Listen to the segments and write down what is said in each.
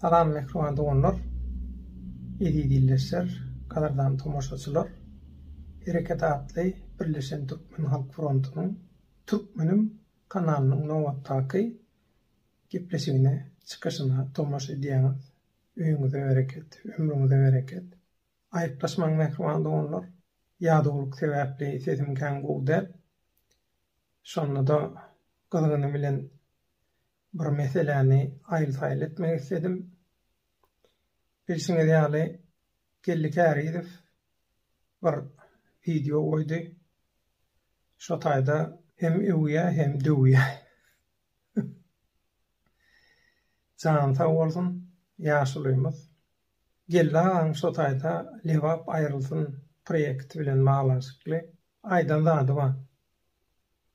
Salam mähriban doganlar, eziz ildeşler, gadyrdan tomaşaçylar! Hereket atly Birleşen Türkmen Halk Frontunyň Türkmenim kanalynyň nobatdaky gepleşigine, çykyşyna tomaşa edýäňiz. Öýüňize bereket, ömrüňize bereket! Aýyplaşmaň mähriban doganlar, ýadawlyk sebäpli sesim kän gowy däl. Şonda-da gyzgyny bilen Bir meseläni aýyl-saýyl etmek isledim. Bilşiňiz ýaly, Geldi Kärizow bir wideo goýdy. Şo taýda hem öwýär, hem döwýär. Jany sag bolsun, ýaşulymyz. Geldi agaň şo taýda Lebap aýrylsyn proýekti bilen baglanyşykly aýdan zady bar.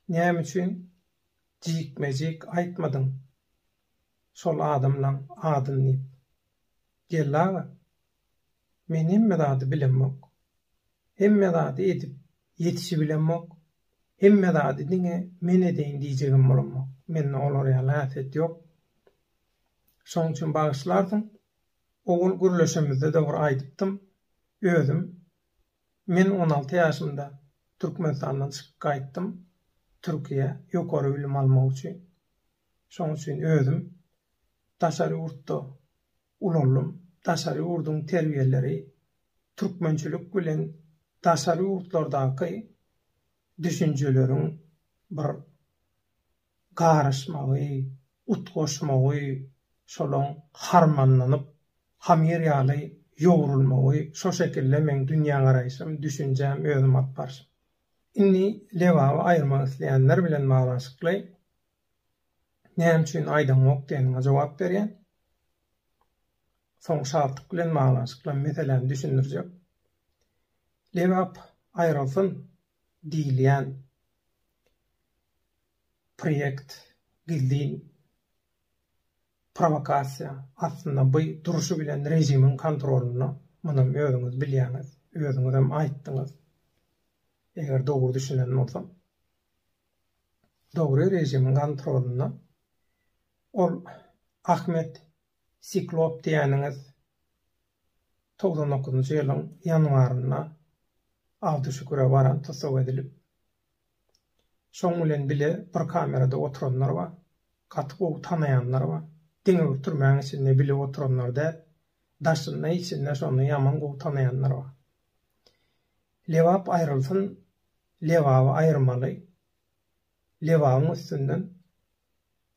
Näme üçin Jikme-jik aýtmadyň şol adamlaň adyn diýip. Geldi aga, men hemme zady bilemok. Hemme zady edip ýetişibilemok. Hemme zady diňe men edeýin diýjegem bolamok. Mende olar ýaly häsiýet ýok. Şoň üçin bagyşlarsyň, owal gürleşemizde-de bir aýdypdym, özüm Men on alty ýaşymda Türkmenistandan çykyp gaýtdym Türkiýä ýokary bilim almak üçin. Şoň üçin özüm daşary ýurtda ulaldym. Daşary ýurduň terbiýeleri türkmençilik bilen daşary ýurtlardaky düşünjeleriň bir garyşmagy, utgaşmagy, şolaň harmanlanyp, hamyr ýaly ýogrulmagy, şo şekilde meň dünýägaraýşym, düşünjäm, özüm alyp barşym. Indi Lebaby aýyrmak isleýänler bilen baglanyşykly näme üçin aýdaňok diýeniňe jogap berýän. Soň Şaltyk bilen baglanyşykly meseläni düşündirjek. Lebap aýrylsyn diýilýän Proýekt gizlin prowokasiýa, aslynda by durşy bilen režimiň kontrolynda, munam özüňiz bilýäňiz, özüňizem aýtdyňyz, eger dogry düşünen bolsam. Dogry režimiň kontrolynda, ol Ahmet Siklop diýýäniňiz togsan dokuzynjy ýylyň ýanwarynda Abduşüküre baran tussag edilip, Şoň bilen bile bir kamerada oturanlar bar. Gaty gowy tanaýanlar bar. Diňe bir türmäň içinde bile oturanlar däl. Daşynda içinde şony ýaman gowy tanaýanlar bar. Lebap aýrylsyn, Lebaby aýyrmaly. Lebabyň üstünden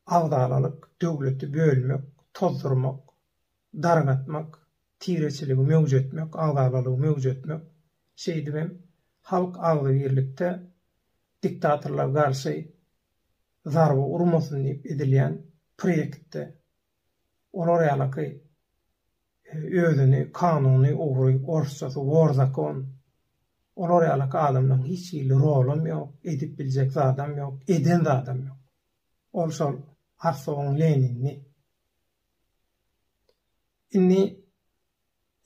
agzalalyk, döwleti bölmek, tozdurmak dargatmak, tireçiligi möwjetmek, agzalalygy möwjetmek, şeýdip hem halk agzybirlikde diktatorlar garşy zarba urmasyn diýip edilýän proýektde olar ýalaky özüni kanuny ogry, orsçasy wor zakon, olar ýalaky adamlaryň hiç hili rolam ýok, edip biljek zadam ýok, eden zadam ýok. Ol şol Arsowyň Leninini Indi,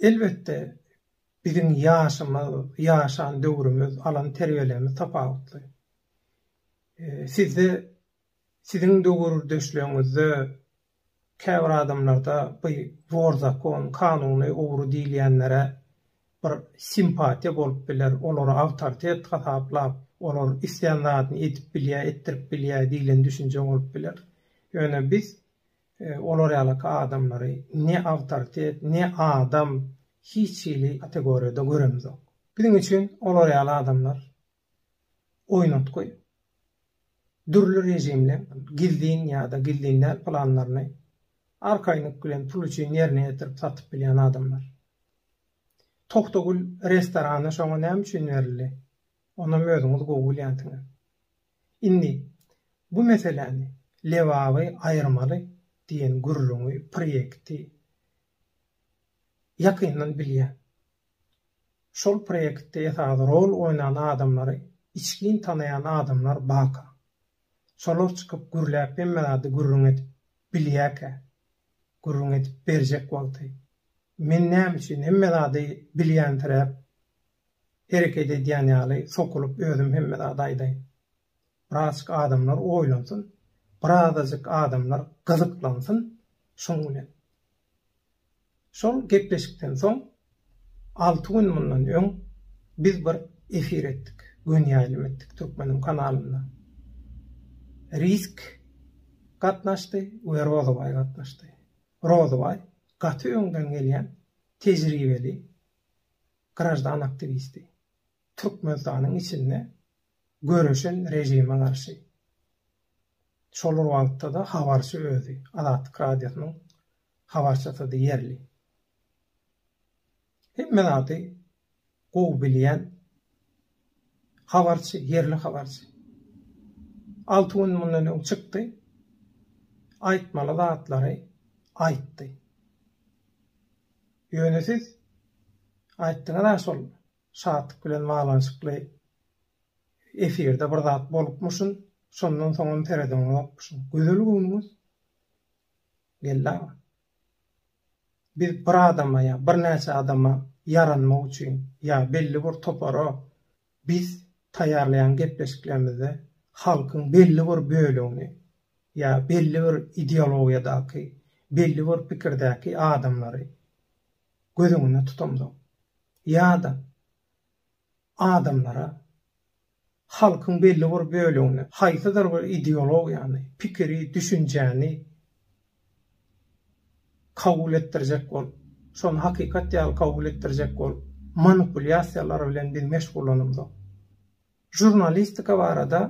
elbetde, biziň ýaşymyz, ýaşan döwrümiz, alan terbiýelerimiz tapawutly. Sizde, siziň döwürdeşleriňizde käbir adamlarda bu zor zakon, kanuny ogry diýilýänlere bir simpatiýa bolup biler, olary awtoritet hasaplap, olar islän zadyny edip bilýär, etdirip bilýär diýlen düşünje bolup biler. Ýöne biz Olar ýalyky adamlary ne awtoritet, ne adam, hiç hili kategoriýada göremizok. Biziň üçin olar ýaly adamlar oýnatgy. Dürli režimler gizlin ýa-da gizlin däl planlaryny arkaýynlyk bilen pul üçin ýerine ýetirip satyp bilýän adamlar. Togtagül restorany şoňa näme üçin berildi? Onam özüňiz gowy bilýänsiňiz. Indi bu meseläni Lebaby aýyrmaly diýen gürrüňi, proýekti ýakyndan bilýän. Şol proýektde esasy rol oýnan adamlary içgin tanaýan adamlar baka. Şolar çykyp gürläp hemme zady gürrüň edip bilýäkä. Gürrüň edip berjek wagty. Men näme üçin hemme zady bilýänsiräp Hereket edýän ýaly sokulyp özüm hemme zady aýdaýyn. Birazjyk adamlar oýlansyn, birazajyk adamlar gyzyklansyn şoň bilen. Şol gepleşikden soň alty gün mundan öň biz bir efir etdik, göni ýaýlym etdik Türkmeniň kanalynda. Risk gatnaşdy we Rozabaý gatnaşdy. Rozabaý gaty öňden gelýän tejribeli graždan aktiwisti. Türkmenistanyň içinde göreşen režime garşy. Şol bir wagtda-da habarçy özi, Azatlyk Radiosynyň habarçysydy ýerli. Hemme zady gowy bilýän Habarçy, ýerli habarçy. Alty gün mundan öň çykdy. Aýtmaly zatlary aýtdy. Ýöne siz aýtdyňyz-a şol Şatlyk bilen baglanyşykly efirde bir zat bolupmyşyn, şondan soňam seredeňokmyşyn. Gözel göwnüňiz geldi aga. Biz bir adama ýa birnäçe adama ýaranmak üçin ýa belli bir topara biz taýýarlaýan gepleşiklerimizde halkyň belli bir bölegini ýa belli bir ideologiýadaky, belli bir pikirdäki adamlary göz öňünde tutamzok. Ýa-da Adamlara, halkyň belli bir bölegine haýsydyr bir ideologiýany, pikiri, düşünjäni kabul etdirjek bolup, şony hakykat ýaly kabul etdirjek bolup, manipulýasiýalar bilen biz meşgullanymzok. Žurnalistika barada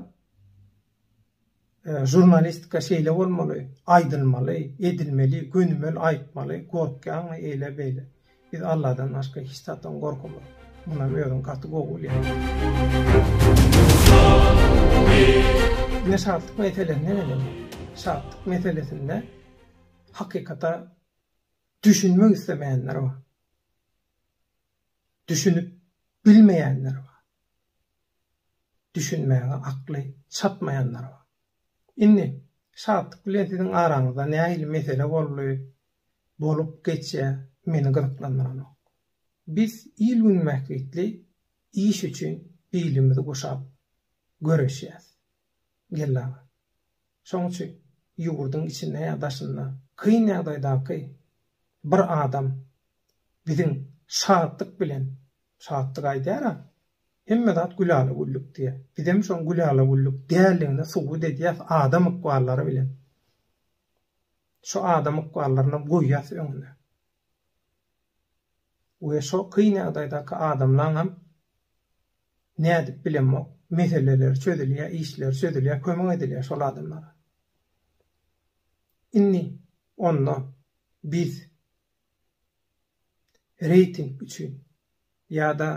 Žurnalistika şeýle bolmaly, aýdylmaly, edilmeli, gönümel aýtmaly, gorkýaňmy eýle beýle. Biz Alladan başga hiç zatdan gorkamok. Munam özüň gaty gowy bilýäň. Ine şatlyk meselesine gelelim. Şatlyk meselesinde hakykata düşünmek islemeýänler bar. düşünip bilmeýänler bar. Düşünmäge akly çatmaýanlar bar. Indi Şatlyk bilen siziň araňyzda nähili mesele boldy, bolup geçýär, meni gyzyklandyranok. Biz il-gün bähbitli iş üçin bilimizi guşap göreşýäs. Geldi aga. Şonuň üçin ýurduň içinde ýa daşynda kyn ýagdaýdaky bir adam biziň şatlyk bilen, şatlyk aýdýar-a, hemme zat gülala-güllük diýýär. Bizem şoň gülala-güllük däldigini subut edýäs adam ykwallary bilen. Şu adam ykballarynam goýýas öňüne. We şo kyn ýagdaýdaky adamlaňam Nädip bilemok, meseleler çözülýär, işler çözülýär, kömek edilýär şol adamlara. Indi onda biz reýting üçin ýa-da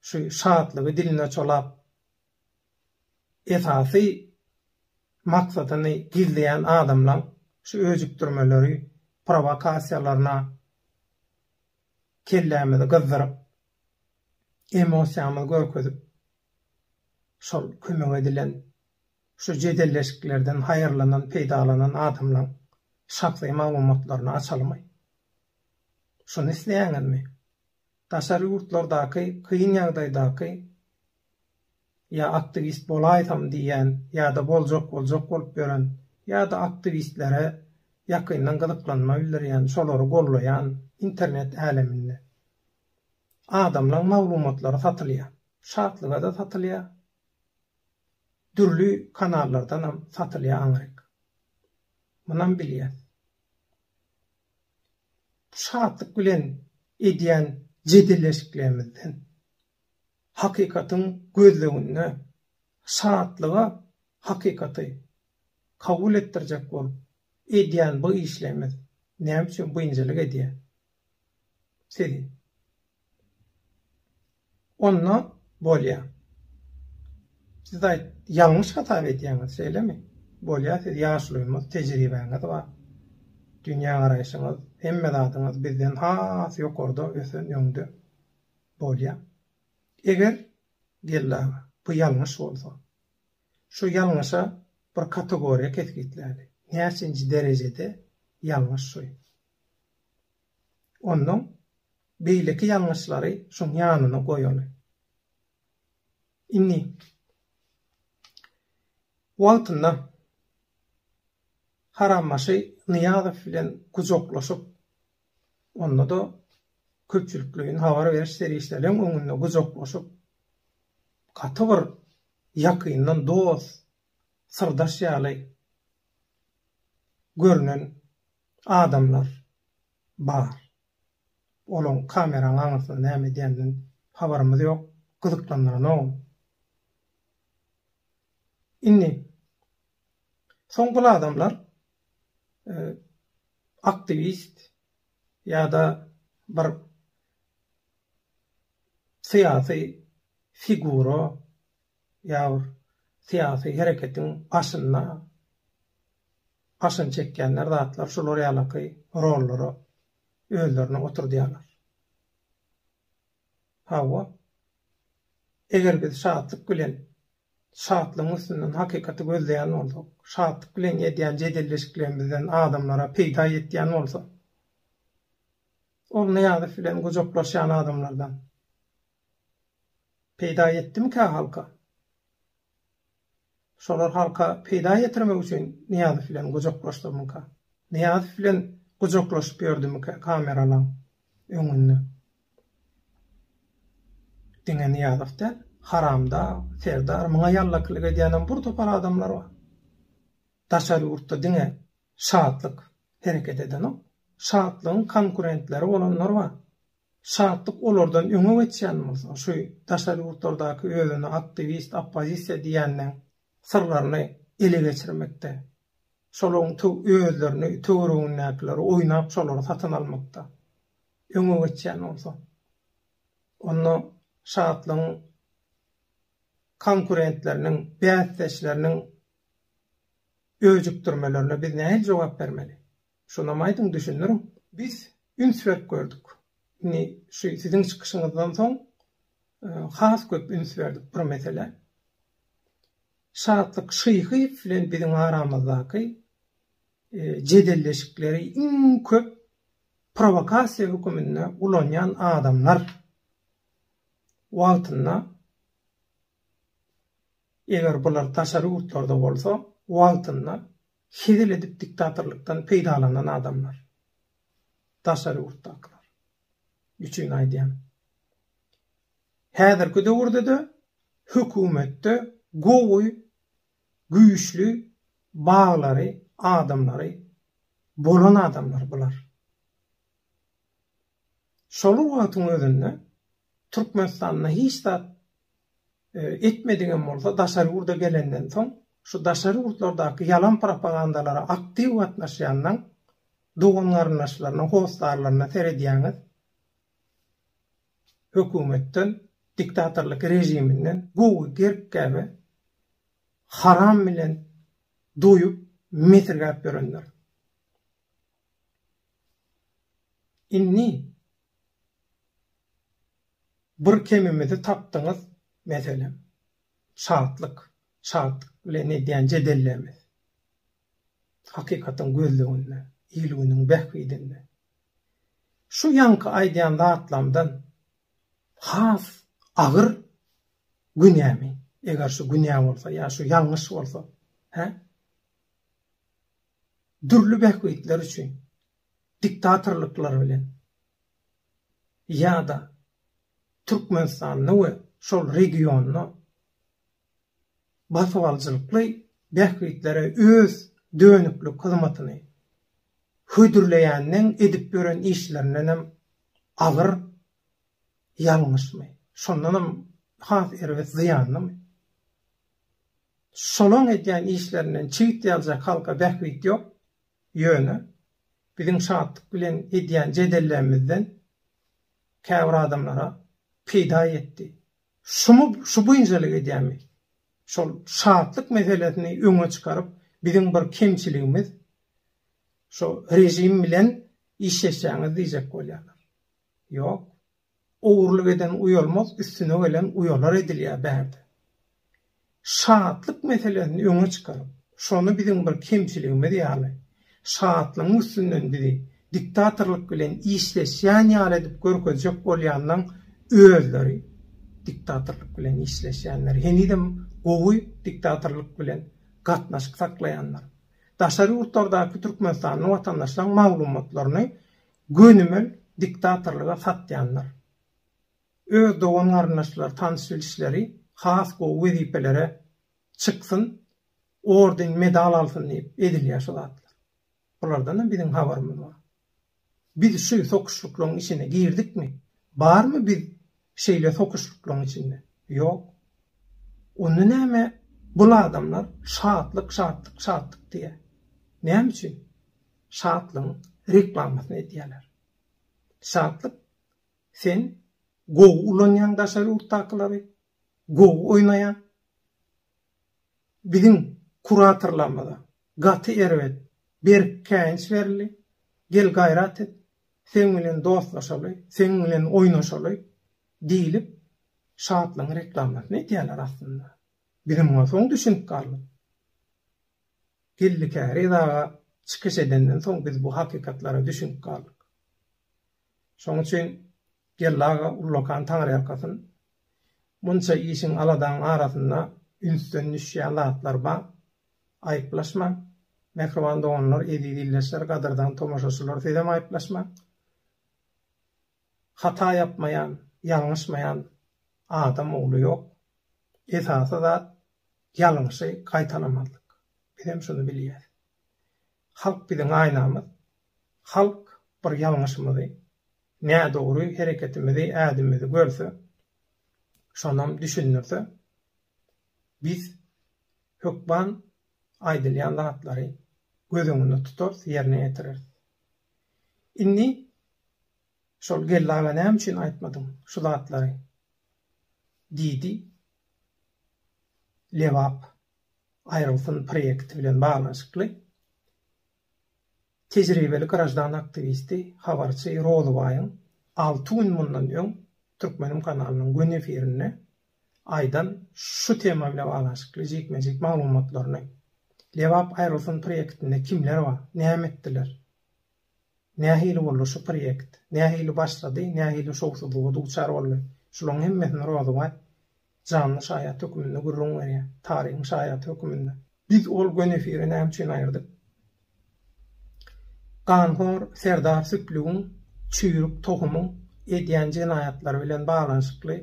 şu şatlygy diline çolap esasy maksadyny gizleýän adamlaň şu öjükdirmeleri, prowakasiýalaryna kellämizi gyzdyryp, emosiýamyzy görkezip, şol kömek edilen, şu jedelleşiklerden haýyrlanan, peýdalanan adamlaň şahsy maglumatlaryny açalmaý. Şuny isleýäňizmi? Daşary ýurtlardaky kyn ýagdaýdaky ýa aktiwist bolaýsam diýýän ýa-da boljak boljak bolup ýören ýa-da aktiwistlere ýakyndan gyzyklanma bildirýän, şolary gollaýan internet äleminde. Adamlaň maglumatlary satylýar. Şatlyga-da satylýar. Dürli kanallardanam satylýar aňryk. Munam bilýär. Bu Şatlyk bilen edýän jedelleşiklerimizden, hakykatyň gözleginde Şatlyga hakykaty kabul etdirjek bolup edýän bu işlerimiz näme üçin biynjalyk edýär? Siz Onda bolýa. Siz aýt, ýalňyş hasap edýäňiz, şeýlemi? Bolýa, siz ýaşulymyz, tejribäňiz bar. Dünýägaraýşyňyz, hemme zadyňyz bizden has ýokarda, ösen, öňde. Bolýa. Eger, geldi aga, bu ýalňyş bolsa, şu ýalňyşa bir kategoriýa kesgitläli. Näçinji derejede ýalňyş şu? Onnoň beýleki ýalňyşlary şuň ýanyna goýaly. Indi wagtynda harambaşy Nyýazow bilen gujaklaşyp, onda-da köpçülikleýin habar beriş serişdeleň öňünde gujaklaşyp, gaty bir ýakyndan dost, syrdaş ýaly görnen Adamlar bar. Olaň kameraň aňyrsynda näme edýändiginden habarymyz ýok, gyzyklandyranogam. Indi soň bul adamlar aktiwist ýa-da bir syýasy figura ýa bir syýasy hereketiň başynda başyny çekýänler zatlar şular ýalaky rollara özlerini oturdýarlar. Hawa, eger biz şatlyk bilen şatlygyň üstünden hakykaty gözleýän bolsak, şatlyk bilen edýän jedelleşiklerimizden adamlara peýda ýetýän bolsa, ol Nyýazow bilen gujaklaşýan adamlardan, Peýda ýetdimikä halka? Şolar halka peýda ýetirmek üçin Nyýazow bilen gujaklaşdymyka? Nyýazow bilen gujaklaşyp ýördümikä kameralaň öňünde? Diňe Nyýazow däl, Haramdag, Serdar, muňa ýallakylyk edýänem bir topar adamlar bar. Daşary ýurtda diňe Şatlyk hereket edenok. Şatlygyň konkurentleri bolanlar bar. Şatlyk olardan öňe geçýän bolsa, şu daşary ýurtlardaky özüni aktiwist, oppozisiýa diýýänleň syrlaryny ele geçirmekde, şolaryň töw özlerini, töweregindäkileri oýnap şolary satyn almakda öňe geçýän bolsa, onda Şatlygyň konkurentleriniň, bäsdeşleriniň öjükdirmelerine biz nähili jogap bermeli? Şonam aýdyň düşündiriň. Biz üns berip gördük. Indi şu siziň çykyşyňyzdan soň has köp üns berdik bir meselä. Şatlyk Şyhyýew bilen biziň aramyzdaky jedelleşikleri iň köp prowokasiýa höküminde ulanýan adamlar wagtynda eger bular daşary ýurtlarda bolsa wagtynda Hezil edip diktatorlykdan peýdalanan adamlar. Daşary ýurtdakylar. Üçin aýdýan. Häzirki döwürdede hökümetde gowy güýçli baglary adamlary bolan adamlar bular. Şol wagtyň özünde Türkmenistanda hiç zat etmedigem bolsa, daşary ýurda gelenden soň, şu daşary ýurtlardaky ýalan propagandalara aktiw gatnaşýanlaň dogan-garyndaşlaryna, hossarlaryna seredýäňiz, hökümetden, diktatorlyk režiminden gowy gerk gäbe haram bilen doýup, mesirgäp ýörenler. Indi bir kemimizi tapdyňyz, meselem, şatlyk, şatlyk bilen edýän jedellerimiz. Hakykatyň gözleginde, il-günüň bähbidinde. Şu ýaňky aýdýan zatlarymdan has agyr günämi, eger şu günä bolsa ýa şu ýalňyş bolsa, hä? dürli bähbitler üçin diktatorlyklar bilen ýa-da Türkmenistanda we şol regionda basybalyjylykly bähbitlere öz dönüklik hyzmatyny hödürleýänleň edip ýören işlerindenem agyr ýalňyşmy, şondanam has erbet zyýanlymy? Şolaň edýän işlerinden çigit ýaljak halka bähbit ýok, ýöne biziň Şatlyk bilen edýän jedellerimizden käbir adamlara peýda ýetdi. Şumy şu buýnjalyk edýämi? Şol Şatlyk meselesini öňe çykaryp, biziň bir kemçiligimiz, şo režim bilen işleşýäňiz diýjek bolýarlar. Ýok, Ogurlyk eden uýalmaz, üstüne gelen uýalar edilýär bärde. Şatlyk meselesini öňe çykaryp, şony biziň bir kemçiligimiz ýaly, şatlygyň üstünden bizi diktatorlyk bilen işleşýän ýaly edip görkezjek bolýanlaň özleri diktatorlyk bilen işleşýänler, henizem gowy diktatorlyk bilen gatnaşyk saklaýanlar. Daşary ýurtlardaky türkmenistanly watandaşlaň maglumatlaryny Gönümel diktatorlyga satýanlar. Öz dogan-garyndaşlary, tanyş-bilişleri has gowy wezipelere çyksyn, orden, medal alsyn diýip ezilýär şu zatlar. Bulardanam biziň habarymyz bar. Biz şu sokuşlyklaryň içine girdikmi? Barmy biz Şeýle sokuşlyklaryň içinde. Ýok. Onda näme bul adamlar şatlyk şatlyk şatlyk diýýär. Näme üçin? Şatlygyň reklamasyny edýärler. Şatlyk sen gowy ulanýaň daşary ýurtdakylary, gowy oýnaýaň. Biziň kuratorlarymyza gaty erbet, berk käýinç berildi, gel gaýrat et, seň bilen dostlaşaly, seň bilen oýnaşaly diýlip, şatlygyň reklamasyny edýärler aslynda. Biziň bolsa oň düşünip galdyk. Geldi Käriz aga çykyş edenden soň biz bu hakykatlara düşünip galdyk. Şoň üçin Geldi aga ullakan taňryýalkasyn. Munça işiň aladaň arasynda ünsden düşýän zatlar bar. Aýyplaşmaň. Mähriban doganlar, eziz ildeşler, gadyrdan tomaşaçylar sizem aýyplaşmaň. Hata ýapmaýan, ýalňyşmaýan adam ogly ýok. Esasy zat ýalňyşy gaýtalamazlyk. Bizem şuny bilýäs. Halk biziň aýnamyz. Halk bir ýalňyşymyzy, nädogry hereketimizi, ädimimizi görse, şonam düşündirse, biz hökman aýdylýan zatlary göz öňünde tutarys, ýerine ýetireris. Indi şol Geldi aga näme üçin aýtmadyň şu zatlary? diýdi Lebap Aýryňsyn proýekti bilen baglanyşykly tejribeli graždan aktiwisti, habarçy Rozybaýyň alty gün mundan öň Türkmenim kanalynyň gün efirinde aýdan şu tema bilen baglanyşykly jikme-jik maglumatlaryny, Lebap Aýryňsyn proýektinde kimler bar, näme etdiler, Nähili boldy şu proýekt? Nähili başlady, nähili şowsuzlyga duçar boldy? Şularyň hemmesini Rozabaý janly şaýat höküminde gürrüň berýär, taryhyň şaýaty höküminde. Biz ol göni efiri näme üçin aýyrdyk? Ganhor serdar Süplügiň çüýrük tohumyň edýän jenaýatlary bilen baglanyşykly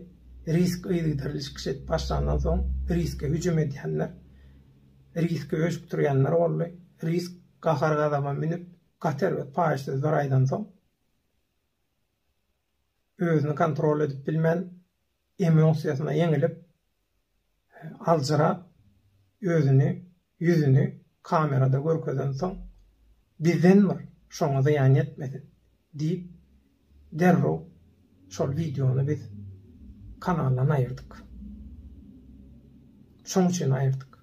risk yzygiderli çykyş edip başlandan soň riske hüjüm edýänler, riski öjükdirýänler boldy, risk Gahar-gazaba münüp, Gater öz paýyşsyz bir aýdan soň, özüni kontrol edip bilmän, emosiýasyna ýeňilip, aljyrap, özüni, ýüzüni kamerada görkezen soň, Bizden bir, şoňa zyýan ýetmesin! diýip, derrew şol wideony biz kanaldan aýyrdyk. Şoň üçin aýyrdyk.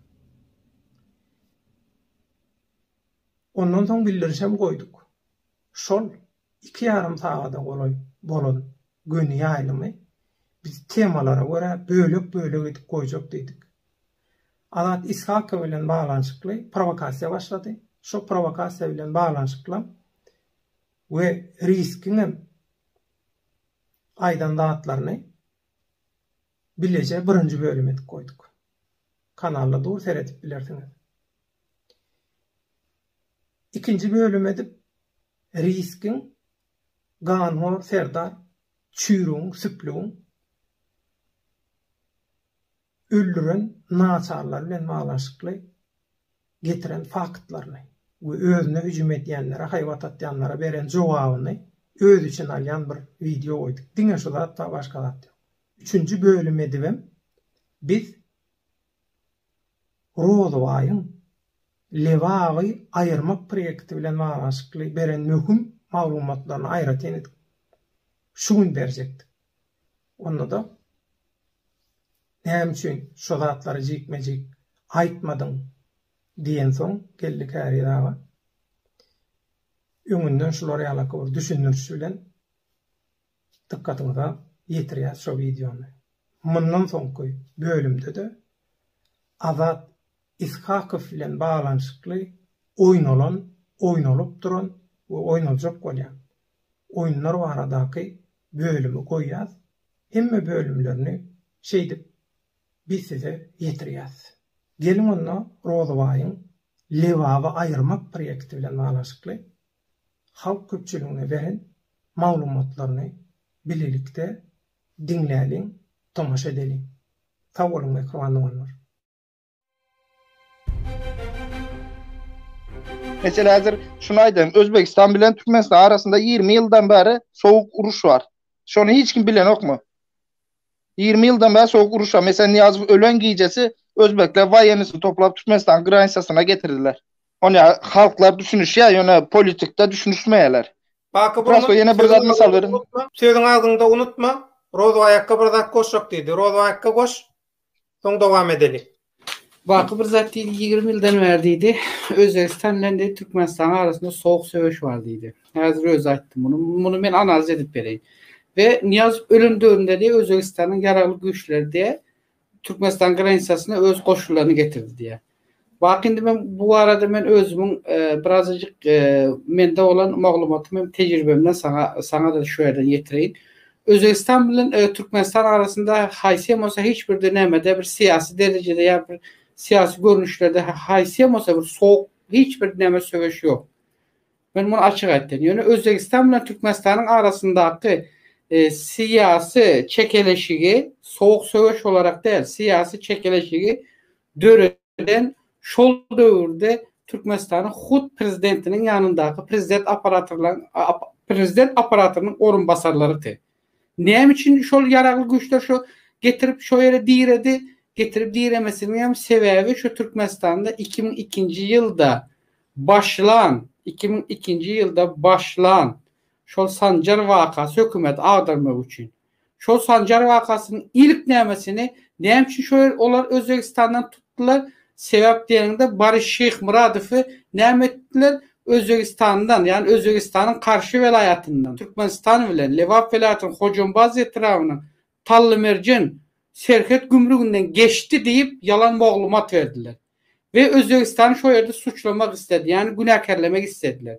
Ondan soň bildirişem goýduk. Şol iki ýarym sagada golaý bolan göni ýaýlymy biz temalara görä bölek-bölek edip goýjak diýdik. Azat Ishakow bilen baglanyşykly prowokasiýa başlady. Şo prowokasiýa bilen baglanyşyklam we Riskiňem aýdan zatlaryny bileje birinji bölüm edip goýduk. Kanalda dur seredip bilersiňiz. Ikinji bölüm edip Riskiň, Ganhor serdar, Çüýrügiň, Süplügiň öldüren naçarlary bilen baglanyşykly getiren faktlaryny we özüne hüjüm edýänlere, haýbat atýanlara beren jogabyny özi üçin alýan bir wideo goýduk. Diňe şu zat bar, başga zat ýok. Üçünji bölüm edibem biz Rozubaýyň Lebaby aýyrmak proýekti bilen baglanyşykly beren möhüm maglumatlaryny aýratyn edip şu gün berjekdik. Onda-da Näme üçin şo zatlary jikme-jik aýtmadyň? diýensoň Geldi Käriz aga öňünden şular ýalaky bir düşündirişi bilen dykgatyňyza ýetirýäs şo wideony. Mundan soňky bölümde-de Azat Ishakow bilen baglanyşykly oýnalan, oýnalyp duran we oýnaljak bolýan oýunlar baradaky bölümi goýýas, hemme bölümlerini şeýdip biz size ýetirýäs. Geliň onda Rozabaýyň Lebaby aýyrmak proýekti bilen baglanyşykly halk köpçüligine beren maglumatlaryny bilelikde diňläliň, tomaşa edeliň. Sag boluň mähriban doganlar. Meselä häzir şuny aýdaýyn, Özbegistan bilen Türkmenistan arasynda ýigrimi ýyldan bäri sowuk uruş bar. Şony hiç kim bilenokmy? Ýigrimi ýyldan bäri sowuk uruş bar. Meselä Nyýazow ölen gijesi özbekler waýennisini toplap Türkmenistanyň granitasyna getirdiler. Ony halklar düşünişýär, ýöne politikda düşünişmeýärler. Baky Prosto Burnuň ýene bir zat sözüň mysal agzyňda beriň. unutma, sözüň agzyňda unutma, Rozbaýakka bir zat goşjak diýdi. Rozbaýakka goş, soň dowam edeli. Baky bir zat diýdi, ýigrimi ýyldan bäri diýdi, Özbegistan bilen diýdi, Türkmenistanyň arasynda sowuk söweş bar diýdi. Häzir özi aýtdy muny. Muny men analiz edip bereýin. We Nyýazow ölen döwründe diýdi, Özbegistanyň ýaragly güýçleri diýdi, Türkmenistan granisasyna öz goşunlaryny getirdi diýýär. Baky indi men bu barada men özümiň e, birazajyk e, mende bolan maglumatym hem tejribemden saňa saňa-da şu ýerden ýetireýin. Özbegistan bilen e, Türkmenistan arasynda haýsy hem bolsa hiç birde nämede bir syýasy derejede ýa bir syýasy görnüşlerde haýsy hem bolsa bir sowuk hiç bir näme söweş ýok. Men muny açyk aýtýan. Ýöne Özbegistan bilen Türkmenistanyň arasyndaky syýasy çekeleşigi sowuk söweş bolaraq däl, syýasy çekeleşigi döreden şol döwürde Türkmenistanyň hut prezidentiniň ýanyndaky prezident aparatynyň orunbasarlarydy. Näme üçin şol ýaragly güýçler şo getirip şo ýere diredi? Getirip diremesiniň hem sebäbi şu Türkmenistanda 2002-nji ýylda başlan, 2002-nji ýylda başlan şol Sanjar wakasy hökümeti agdarmak üçin. Şol Sanjar wakasynyň ilk nämesini näme üçin şo ýer olar Özbegistandan Ýapdylar, sebäp diýeniňde Boris Şyhmyradowy näme etdiler, Özbegistandan, ýagny Özbegistanyň Karşy welaýatyndan, Türkmenistan bilen Lebap welaýatynyň Hojambaz etrabynyň Tallymerjen serhet gümrüginden geçdi diýip ýalan moglumat berdiler we Özbegistany şo ýerde suçlamak isledi, ýagny günäkärlemek islediler.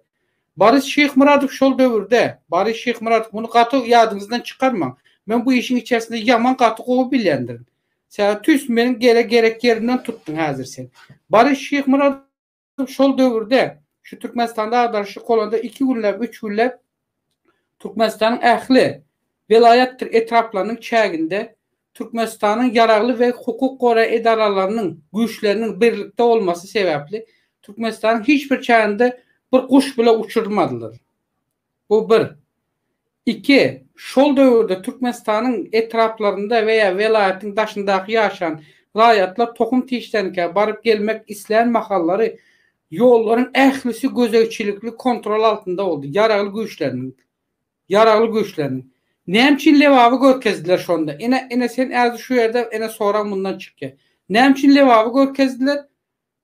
Boris Şyhmyradow şol döwürde, Boris Şyhmyradow muny gaty ýadyňyzdan çykarmaň, men bu işiň içerisinde ýaman gaty gowy bilýändirin. Saga tüýs meniň gele gerek ýerimden tutdyň häzir sen. Baryş Şyhmyradow şol döwürde şu Türkmenistanda agdarşyk bolanda iki günläp, üç günläp Türkmenistanyň ähli welaýatdyr etraplarynyň çäginde Türkmenistanyň ýaragly we hukuk goraýjy edaralarynyň güýçleriniň birlikde bolmasy sebäpli Türkmenistanyň hiç bir çäginde bir guş bile uçurmadylar. Bu bir. Iki, şol döwürde Türkmenistanyň etraplarynda we ýa welaýatyň daşyndaky ýaşan raýatlar tohum-tişdenikä baryp gelmek islän mahallary ýollaryň ählisi gözegçilikli kontrol altynda boldy, ýaragly güýçleriniň. Ýaragly güýçleriniň. Näme üçin Lebaby görkezdiler şonda? Ine, ine sen äzi şu ýerde, ine sorag mundan çykýar. Näme üçin Lebaby görkezdiler?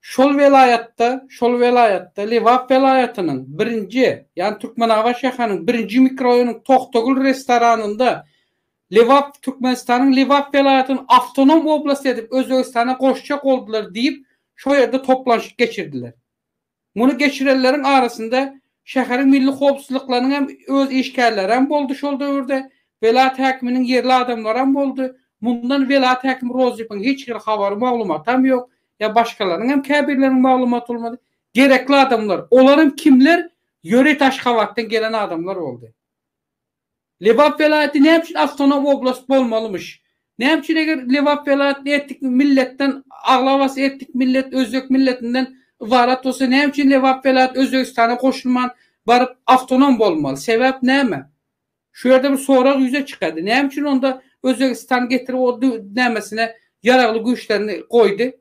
Şol welaýatda, şol welaýatda, Lebap welaýatynyň, birinji, ýagny Türkmenabat şäheriniň birinji mikroraýonynyň Tohtagül restoranynda Lebap Türkmenistanyň Lebap welaýatyny awtonom oblast edip Özbegistana goşjak boldular diýip, şo ýerde toplanşyk geçirdiler. Muny geçirenleriň arasynda şäheriň milli howpsuzlyklarynyň hem öz işgärleri hem boldy şol döwürde, welaýat häkiminiň ýerli adamlary hem boldy. Mundan welaýat häkimi Rozypoň hiç hili habary, maglumaty hem ýok. ýa başgalaryň hem käbirleriniň maglumat bolmady, gerekli adamlar, olaram kimler, ýöreýt Aşgabatdan gelen adamlar boldy. Lebap welaýaty näme üçin awtonom oblast bolmalymyş? Näme üçin eger Lebap welaýatyny etnik milletden aglabasy etnik millet özbek milletinden ybarat bolsa näme üçin Lebap welaýaty Özbegistana goşulman baryp awtonom bolmaly? Sebäp näme? Şu ýerde bir sorag ýüze çykady. Näme üçin onda Özbegistan getirip o nämesine ýaragly güýçlerini goýdy?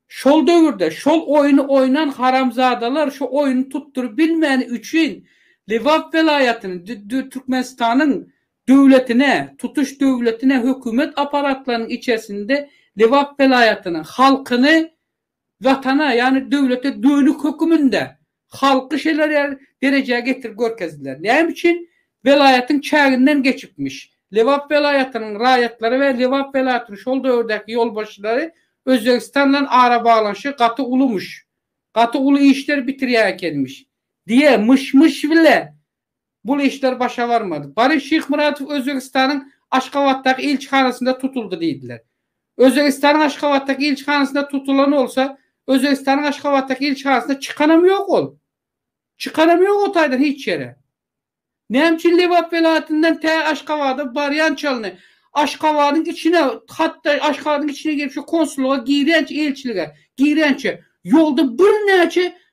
Şol döwürde şol oýny oýnan haramzadalar şu oýny tutduryp bilmäni üçin Lebap welaýatyny Türkmenistanyň döwletine, tutuş döwletine hökümet aparatlarynyň içersinde Lebap welaýatyny, halkyny Watana, ýagny döwlete dönük höküminde halky şeler derejä getirip görkezdiler. Näme üçin? Welaýatyň çäginden geçipmiş. Lebap welaýatynyň raýatlary we Lebap welaýatynyň şol döwürdäki ýolbaşçylary Özbegistan bilen arabaglanyşygy gaty ulumyş. Gaty uly işler bitirýän ekenmiş. Diýe, myş-myş bile bul işler başa barmady. Boris Şyhmyradow Özbegistanyň Aşgabatdaky ilçihanasynda tutuldy diýdiler. Özbegistanyň Aşgabatdaky ilçihanasynda tutulan bolsa, Özbegistanyň Aşgabatdaky ilçihanasynda çykanam ýok ol. Çykanam ýok o taýdan hiç ýere. Näme üçin Lebap welaýatyndan tä Aşgabada barýan çalyny, Aşgabadyň içine, hatda Aşgabadyň içine girip şu konsullyga girýänçä, ilçilige girýänçä ýolda birnäçe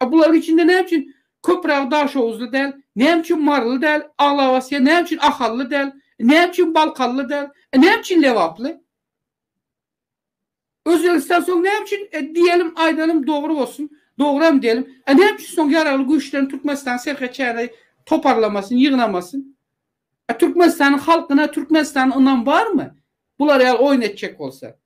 A bularyň içinde näme üçin Köpüragy daşoguzly däl, näme üçin maryly däl, aglabasya näme üçin ahally däl, näme üçin balkanly däl, näme üçin lebaply? Özbegistan soň näme üçin diýelim, aýdalyň dogry bolsun, dogryam diýelim, a näme üçin soň ýaragly güýçlerini Türkmenistanyň serhet çägine toparlamasyn, ýygnamasyn? A Türkmenistanyň halkyna, Türkmenistana ynam barmy? Bular ýaly oýun etjek bolsa.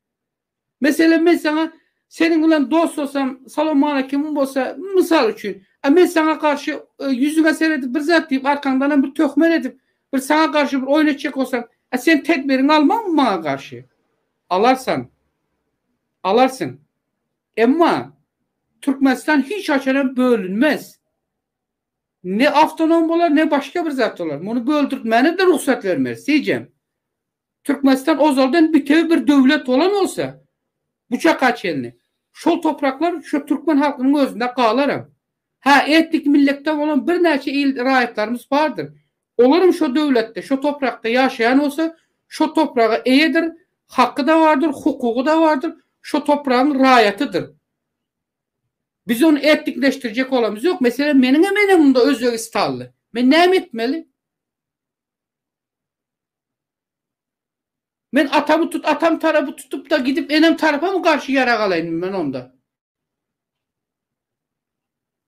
Meselem, men saňa seniň bilen dostlasam, salawmaleýkimim bolsa, mysal üçin, a men saňa garşy ýüzüňe seredip bir zat diýip, arkaňdanam bir töhmet edip, bir saňa garşy bir oýun etjek bolsam, a sen tedbiriňi almaňmy maňa garşy? Alarsan. Alarsyň. Emma Türkmenistan hiç haçanam bölünmez. Ne awtonom bolar, ne başga bir zat bolar. Muny böldürtmäne-de rugsat bermeris, seýjem. Türkmenistan ozaldan bitewi bir döwlet bolan bolsa, bu çaka çenli şol topraklar şu türkmen halkynyň özünde galaram. Hä, etnik milletden bolan birnäçe il raýatlarymyz bardyr. Olaram şo döwletde, şo toprakda ýaşaýan bolsa, şo topraga eýedir, haky-da bardyr, hukugy-da bardyr, şo topragyň raýatydyr. Biz ony etnikleşdirjek bolamyz ýok. Meselem, meniňem enem-unda özbegistanly. Men näme etmeli? Men atamy tut atam tarapy tutupda gidip enem tarapamy garşy ýarag alaýyn men onda.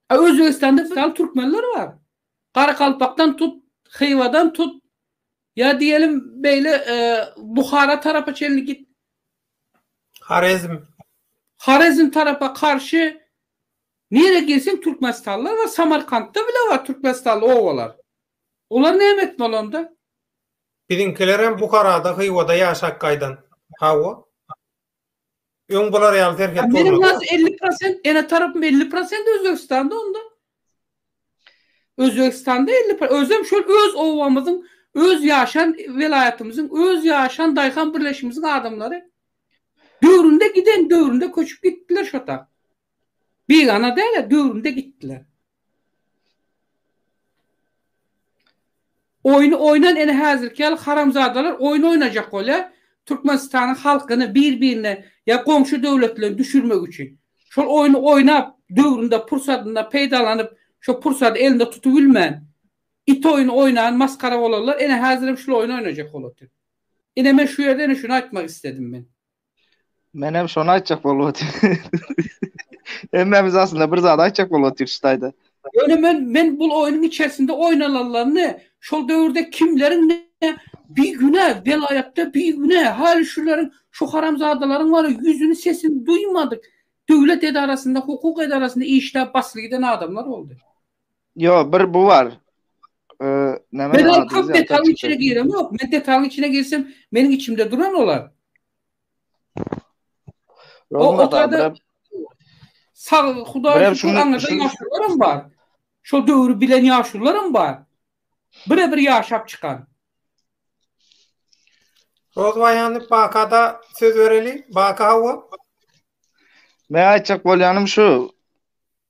A Özbegistanda misal türkmenler bar. Garakalpakdan tut, Hywadan tut, ýa diýelim beýle Buhara tarapa çenli git. Horezm. Horezm tarapa karşy nirä girseň türkmenistanlylar bar, Samarkantda bile bar türkmenistanly obalar. Olar näme etdi bolanda? Biziňkilerem Buharada, Hywada ýaşap gaýdan. Hawa. Öň bular ýaly serhet bolmady. Meniň has elli prosent, ene tarapym elli prosent Özbegistanda onda. Özbegistanda elli pro-, özem şol öz obamyzyň, öz ýaşan welaýatymyzyň, öz ýaşan daýhan birleşimiziň adamlary. Döwründe giden, döwründe köçüp gitdiler şo tak. Bigana däl-ä, döwrümde gitdiler. Oýny oýnan ene häzirki ýaly haramzadalar oýun oýnajak bolýa Türkmenistanyň halkyny bir birine ýa goňşy döwletlere düşürmek üçin. Şol oýny oýnap döwründe pursatynda peýdalanyp şo pursady elinde tutubilmän it oýny oýnan masgara bolanlar ene häzirem şul oýny oýnajak bolatyr. Ine men şu ýerde ene şuny aýtmak istedim men. Menem şony aýtjak bolup otyryn. Hemmämiz aslynda bir zat aýtjak bolup otyrys şu taýda. Ýöne men men bul oýnuň içerisinde oýnalanlaryny, şol döwürde kimleriň ne bigünä welaýatda bigünä häli şuleriň şu haramzadalaryň bar ya ýüzüni sesini duýmadyk döwlet edarasynda hukuk edarasynda işläp basly giden adamlar boldy. Ýo, bir bu bar. Men ol köp detalyň içine giremok. Men detalyň içine girsem, meniň içimde duran olar. O otady. Sag Hudaý şükür aňyrda ýaşlarym bar. Şol döwri bilen ýaşlarym bar. Bire-bir ýaşap çykan. Rozwaýany Bakada söz bereli. Baka hawa. Men aýtjak bolýanym şu.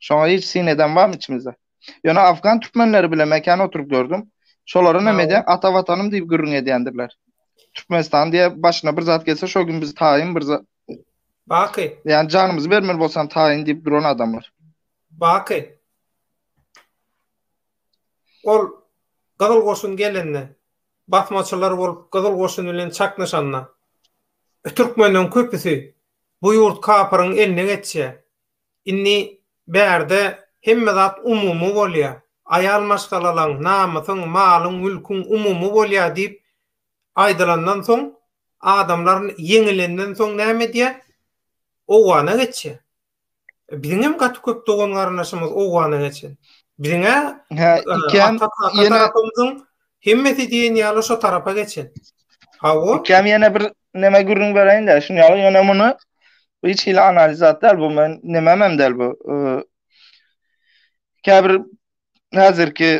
Şoňa hiç syn eden barmy içimizde? Ýöne afgan türkmenleri bilen mekana oturyp gördüm. Şolaryň hemede ata watanym diýip gürrüň edýändirler. Türkmenistan diýe başyna bir zat gelse şo gün biz taýyn bir zat Baky. Ýani janymyzy bermeli bolsan taýyn diýip duran adamlar. Baky. Ol Gyzyl goşun gelende, basmaçylar bolup Gyzyl goşun bilen çaknyşanda, türkmenleriň köpüsi bu ýurt kapyryň eline geçýär. Indi bärde hemme zat umumy bolýar. Aýal maşgalalaň, namysyň, malyň, mülküň umumy bolýar diýip aýdylandan soň, adamlar ýeňilenden soň näme edýär? Owgana geçýär. Biziňem gaty köp dogan-garyndaşymyz owgana geçen. Biziň-ä ata tarapymyzyň Hemmesi diýen ýaly şo tarapa geçen. Hawa. Ikam ýene bir näme gürrüň bereýin de, şuny ýaly ýöne muny hiç hili analiz atdal bu men näme men däl bu. Käbir häzirki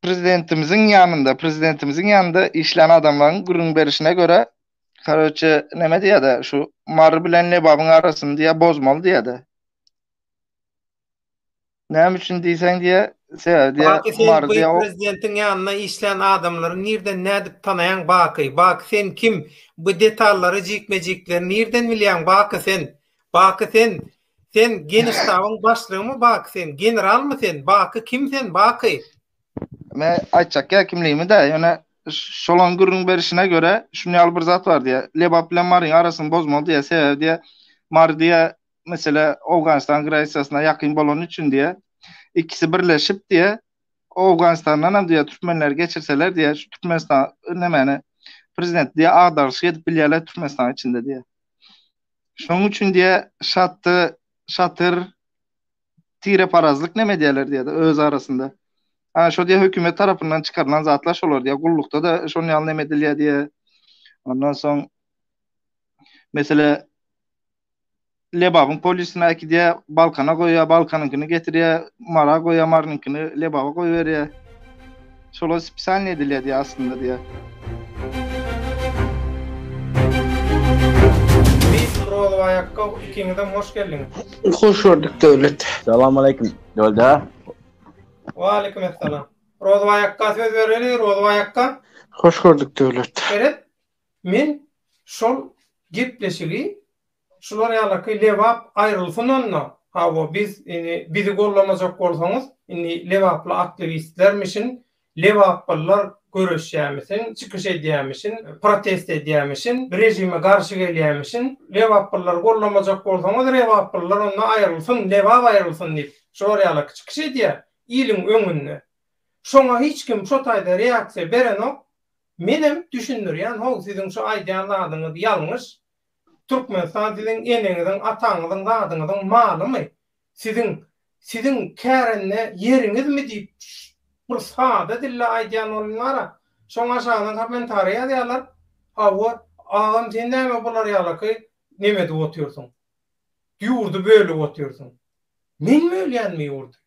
prezidentimiziň ýanynda, prezidentimiziň ýanynda işlän adamlaryň gürrüň berişine görä, Karoçe näme diýýärdi şu Mary bilen Lebabyň arasyny diýýär bozmaly diýýärdi. Näme üçin diýseň diýe, sebäbi diýe, Baky sen Umar diýe o prezidentiň ýanynda işlän adamlary nirden nädip tanaýaň Baky? Baky sen kim? Bu detallary jikme-jikleri nirden bilýäň Baky sen? Baky sen sen geniştabyň başlygymy Baky sen? Generalmy sen? Baky kim sen Baky? Men aýtjak ýa kimligimi-dä, ýöne şolaň gürrüň berişine görä, şuny ýaly bir zat bar diýe. Lebap bilen Maryň arasyny bozmaly diýe, sebäbi diýe, Mary diýe Meselä, Owganystan granisasyna ýakyn bolany üçin diýýä, ikisi birleşip diýýä, Owganystandan hem diýýä türkmenleri geçirseler diýýä, şu Türkmenistan nemeni prezidenti diýýä agdaryşyk edip bilýärler Türkmenistanyň içinde diýýä. Şonuň üçin diýýä şaty, şatyr tireparazlyk neme diýerler diýýä öz arasynda. Ha şo diýýä hökümet tarapyndan çykarylan zatlar şolar diýýä, gullukda da şonuň ýaly neme edilýär diýýä. Ondan soň meselä Lebabyň polisine äkidýär, Balkana goýýar, Balkanyňkyny getirýär, Mara goýýar, Marynyňkyny Lebaba goýberýär. Şolar spesialnyý edilýär diýýär aslynda diýýär. Biz Rozowaýakga ikiňizem hoş geldiňiz. Hoş gördük Döwlet. Salam aleýkum Döwletja. Waleýkim essalam. Rozowaýakga söz bereli, Rozowaýakga. Hoş gördük Döwlet. Seret, Men şol gepleşigi şular ýalaky Lebap aýrylsyn onda, hawa biz indi bizi gollamajak bolsaňyz indi lebaply aktiwistlermişin, lebaplylar göreşýämişin, çykyş edýämişin, protest edýämişin, režime garşy gelýämişin, lebaplylary gollamajak bolsaňyz lebaplylar onda aýrylsyn, lebap aýrylsyn diýip şular ýalaky çykyş edýär iliň öňünde. Şoňa hiç kim şo taýda reaksiýa berenok. Menem düşündirýän how siziň şu aýdýan zadyňyz ýalňyş Türkmenistan siziň eneňiziň ataňyzyň zadyňyzyň malymy siziň siziň kärende ýeriňizmi diýip bir sada dilde aýdýan bolun bara şoň aşagyna kommentariý ýazýarlar hawa agam sen näme bular ýalaky neme edip otyrsyň ýurdy bölüp otyrsyň men bölýänmi ýurdy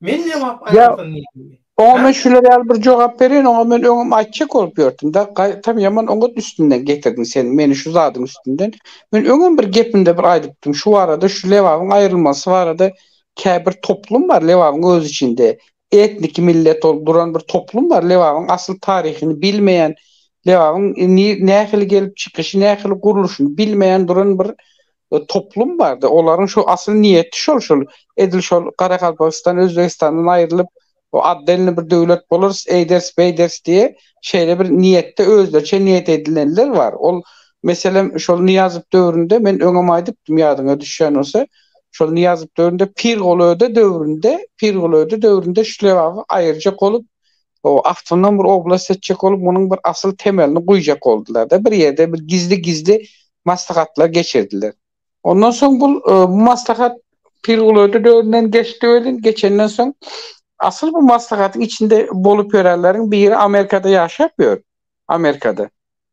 Men jogap aýtsam diýdim. Oňa men şular ýaly bir jogap bereýin, oňa men öňem aýtjak bolup ýörtüm-de, gaýtam ýaman oňat üstünden getirdiň sen meni şu zadyň üstünden. Men öňem bir gepimde bir aýdypdym, şu barada, şu Lebabyň aýrylmasy barada käbir toplum bar Lebabyň öz içinde, etniki millet bolup duran bir toplum bar, Lebabyň asyl taryhyny bilmeýän, Lebabyň nähili gelip çykyşy, nähili gurluşyny bilmeýän duran bir e, toplum bardy. Olaryň şu asyl niýeti şol şol. Edil şol Garagalpagystan Özbegistandan aýrylyp, o addelni bir döwlet bolarys, eýderis, beýderis diýe şeýle bir niýetde özlerçe niýet edilenler bar. Ol meselem şol Nyýazow döwründe men öňem aýdypdym ýadyňa düşýän bolsa, şol Nyýazow döwründe Pirgulöde döwründe, Pirgulöde döwründe şlewawy aýyrjak bolup o astyndan bir oblast seçjek bolup, munuň bir asyl temelini guýjak boldular-da, bir ýerde bir gizli-gizli maslahatlar geçirdiler. Ondan soň bul bu maslahat Pirgulöde döwründen geçdi welin, geçenden soň asyl bu maslahatyň içinde bolup ýörenleriň biri Amerikada ýaşap ýör, Amerikada.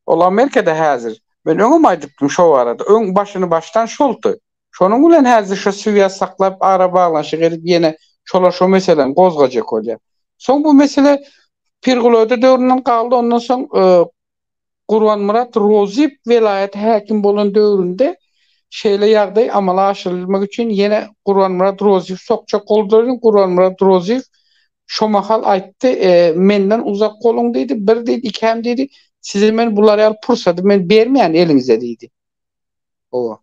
Ol Amerikada häzir. Men öňem aýdypdym şo barada, öň başyny başdan şoldy. Şonuň bilen häzir şu swýaz saklap arabaglanyşyk edip ýene şolar şo meseläni gozgajak bolýar. Soň bu mesele Pirgulöde döwründen galdy ondan soň Gurbanmyrat Rozyýew welaýata häkim bolan döwründe şeýle ýagdaý amala aşyrylmak üçin ýene Gurbanmyrat Rozyýew sokjak boldular eden Gurbanmyrat Rozyýew şo mahal aýtdy menden uzak boluň diýdi bir diýdi ikäm diýdi size men bular ýaly pursady men bermeýän eliňize diýdi. Howa.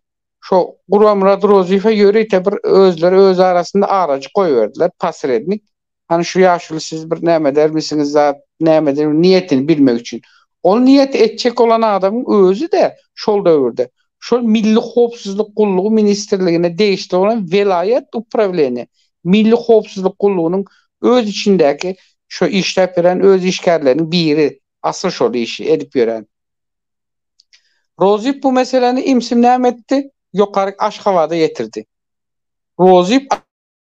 Şo Guramyrat Rozyýewe ýörite bir özleri öz arasynda arajyk goýberdiler, posrednik. Hany şu ýaşuly siz bir näme edermisiňiz zat, nämedir bir niýetini bilmek üçin. Ol niýet etjek bolan adamyň özi-de şol döwürde şol Milli howpsuzlyk gullugy ministrligine degişli bolan welaýat uprawleniýe, Milli howpsuzlyk gullugynyň öz içindäki şo işläp ýören öz işgärleriniň biri, asyl şol işi edip ýören. Rozyp bu meseläni imsinäm etdi, ýokaryk Aşgabada ýetirdi. Rozyp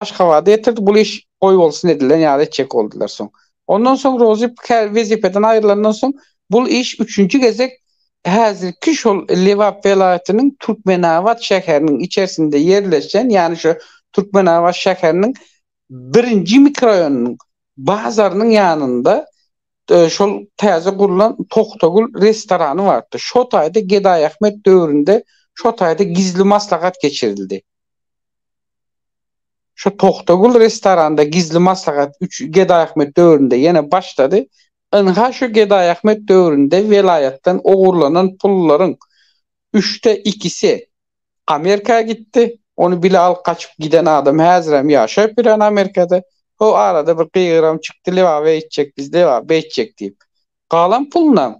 Aşgabada ýetirdi, bul iş goýbolsun edilen ýaly etjek boldular soň. Ondan soň Rozyp kä wezipeden aýrylandan soň bul iş üçünji gezek häzirki şol Lebap welaýatynyň Türkmenabat şäheriniň içersinde ýerleşen, ýagny şu Türkmenabat şäheriniň birinji mikroýonynyň bazarynyň ýanynda Şol täze gurlan Togtagül restorany bardy. Şo taýda Gedaýahmet döwründe şo taýda gizli maslahat geçirildi. Şo Togtagül restoranda gizli maslahat üç Gedaýahmet döwründe ýene başlady. Ynha şo Gedaýahmet döwründe welaýatdan ogurlanan pullaryň üçde ikisi Amerika gitdi. Ony bile alyp gaçyp giden adam häzirem ýaşap ýören Amerikada. Ho arada bir gygyram çykdy Lebaba eýtjek biz Lebap beýtjek diýip. Galan pulunam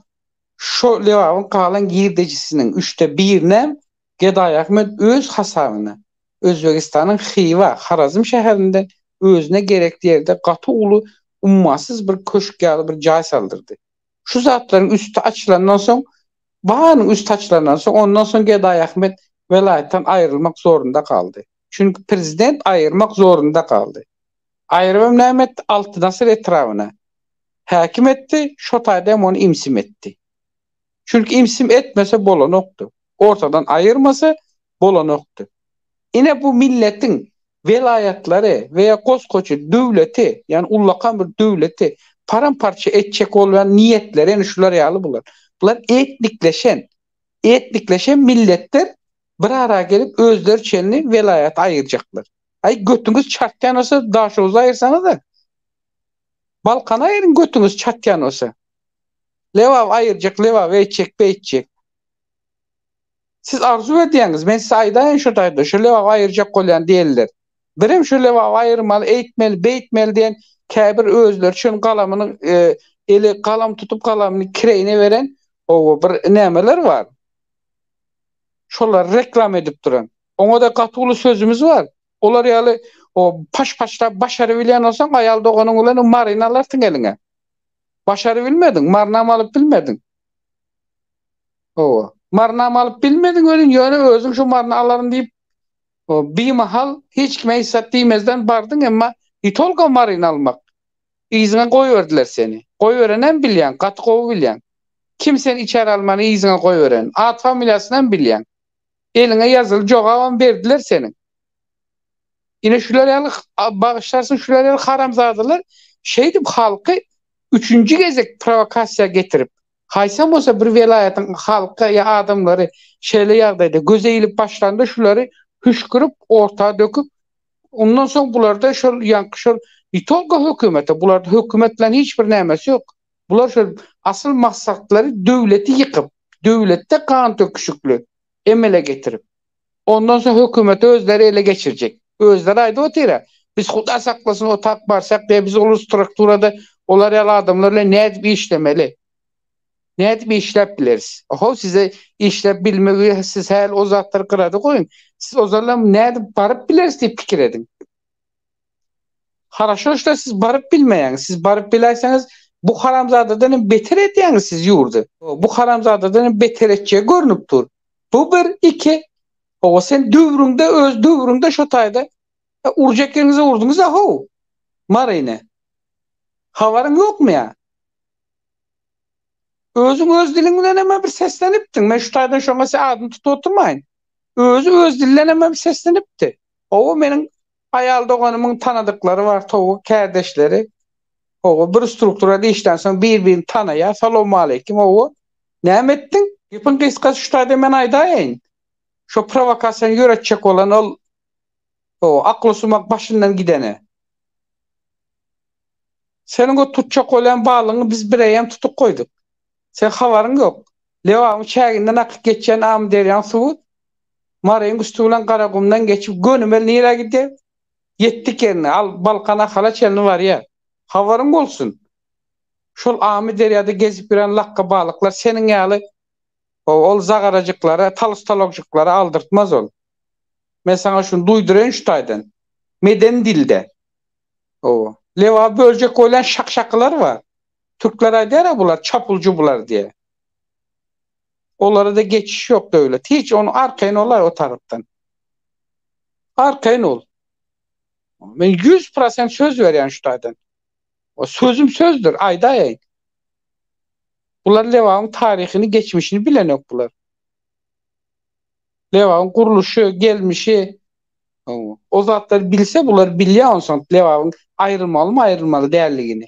şo Lebabyň galan girdejisiniň üçde birinem Gedaý Ahmet öz hasabyna Özbegistanyň Hywa, Harazm şäherinden özüne gerekli ýerde gaty uly ummasyz bir köşk ýaly bir jaý saldyrdy. Şu zatlaryň üsti açylandan soň, barynyň üsti açylandan soň, ondan soň Gedaýahmet welaýatdan aýrylmak zorunda galdy. Çünki prezident aýyrmak zorunda galdy. Aýyrybam näme etdi? Altynasyr etrabyna häkim etdi, şo taýda hem ony imsim etdi. Çünki imsim etmese bolanokdy. Ortadan aýyrmasa bolanokdy. Ine bu milletiň welaýatlary we goskoçy döwleti, ýagny ullakan bir döwleti param-parça etjek bolýan niýetleri ýene şular ýaly bular. Bular etnikleşen, etnikleşen milletler bir ara gelip özleri çenli welaýaty aýyrjaklar. Aý götüňiz çartýan bolsa Daşoguzy aýyrsaňyzda. Balkany aýyryň götüňiz çatýan bolsa. Lebaby aýyrjak, Lebaby etjek, beýtjek. Siz arzuw edýäňiz, men size aýdaýyn şo taýda, şo lebaby aýyrjak bolýan däldir. Birem şo lebaby aýyrmaly, eýtmeli, beýtmeli diýen käbir özleri üçin galamyny eli galam tutup galamyny kireýine beren oba bir nämeler bar. Şolary reklama edip duran. Oňa-da gaty uly sözümiz bar. Olar ýaly o paş-paşlap başarybilýän bolsaň aýal doganyň bilen o maryny alarsyň eliňe. Başarybilmediň, marynam alyp bilmediň. Hawa. Marnamy alyp bilmediň welin, ýöne özüň şu maryny alaryn diýip, bimahal hiç kime eýsat diýmezden bardyň, emma ýitolga maryny almak yzyňa goýberdiler seni. Goýberenem bilýäň, gaty gowy bilýäň. Kim seni içeri almany yzyňa goýberen. At-familiýasynam bilýäň. Eliňe ýazyly jogabam berdiler seniň. Ine şular ýaly, bagyşlarsyň, şular ýaly haramzadalar şeýdip halky üçünji gezek prowokasiýa getirip, Haýsam bolsa bir welaýatyň halky ýa adamlary şeýle ýagdaýda göze ilip başlanda şulary hüşkürip orta döküp ondan soň bularda şol ýaňky şol ne tolko hökümete bularda hökümet bilen hiç bir nämesi ýok bular şol asyl maksatlary döwleti ýykyp döwletde gan döküşikli emele getirip Ondan soň hökümeti özleri ele geçirjek. Özleri aýdyp otyra, biz huda saklasyn otap barsak diýe biz ol strukturada olar ýaly adamlar bilen nädip işlemeli? Nädip işläp bileris? Ohow size işläp bilmegi siz häl o zatlary gyrada goýuň. Siz ozalem nädip baryp bileris diýip pikir ediň. Haraşo işte siz baryp bilmeýäňiz. Siz baryp biläýseňiz bu haramzadadan hem beter edýäňiz siz ýurdy. Bu haramzadadan hem beter etjegi görnüp dur. Bu bir, iki. Owa sen döwrüňde öz döwrüňde şo taýda e, urjak ýeriňize urduňyz a how. Maryny. Habaryň ýokmy ýa? Özüň öz diliň bilen hem bir seslenipdiň. Men şu taýdan şoňa sen adyny tutup oturmaýyn. Özü öz dilden hem seslenipdi. Owa meniň Aýal doganymyň tanadyklary bar towuk kärdeşleri. Hawa, bir strukturada işlän soň bir-birini tanaýar. Salowmaleýkim, hawa, näme etdiň? Gepiň gysgasy şu taýda men aýdaýyn. Şo prowokasiýany ýöretjek bolan ol, hawa, aklysumak başyndan gideni. Seniň o tutjak bolýan balygyňy biz bireýýäm tutup goýduk. Seň habaryň ýok. Lebabyň çäginden akyp geçýän Amyderýaň suwy Maryň üsti bilen Garagumdan geçip gönümel nirä gider? Ýetdik ýerine, al, Balkan Ahala çenli barýar. Habaryň bolsun! Şol Amyderýada gezip ýören lakga balyklar seniň ýaly ol zagarajyklara, talus-talogjyklara aldyrtmaz ol. Men saňa şuny duýduraýyn şu taýdan, medeni dilde. Hawa. Lebaby böljek boýlan şak-şakylar bar. Türkler aýdýara bular çapul cubular diýe. Olara da geçiş ýok döwlet. Hiç onu arkaýyn olaý o tarapdan. Arkaýyn ol. Men 100% söz berýän şu taýdan. O sözüm sözdür, aýdaýaýyn. Bular Lebabyň taryhyny, geçmişini bilenok bular. Lebabyň gurluşy, gelmişi, o zatlar bilse bular bilýär onsoň Lebabyň aýrylmalymy, aýrylmaly däldigini.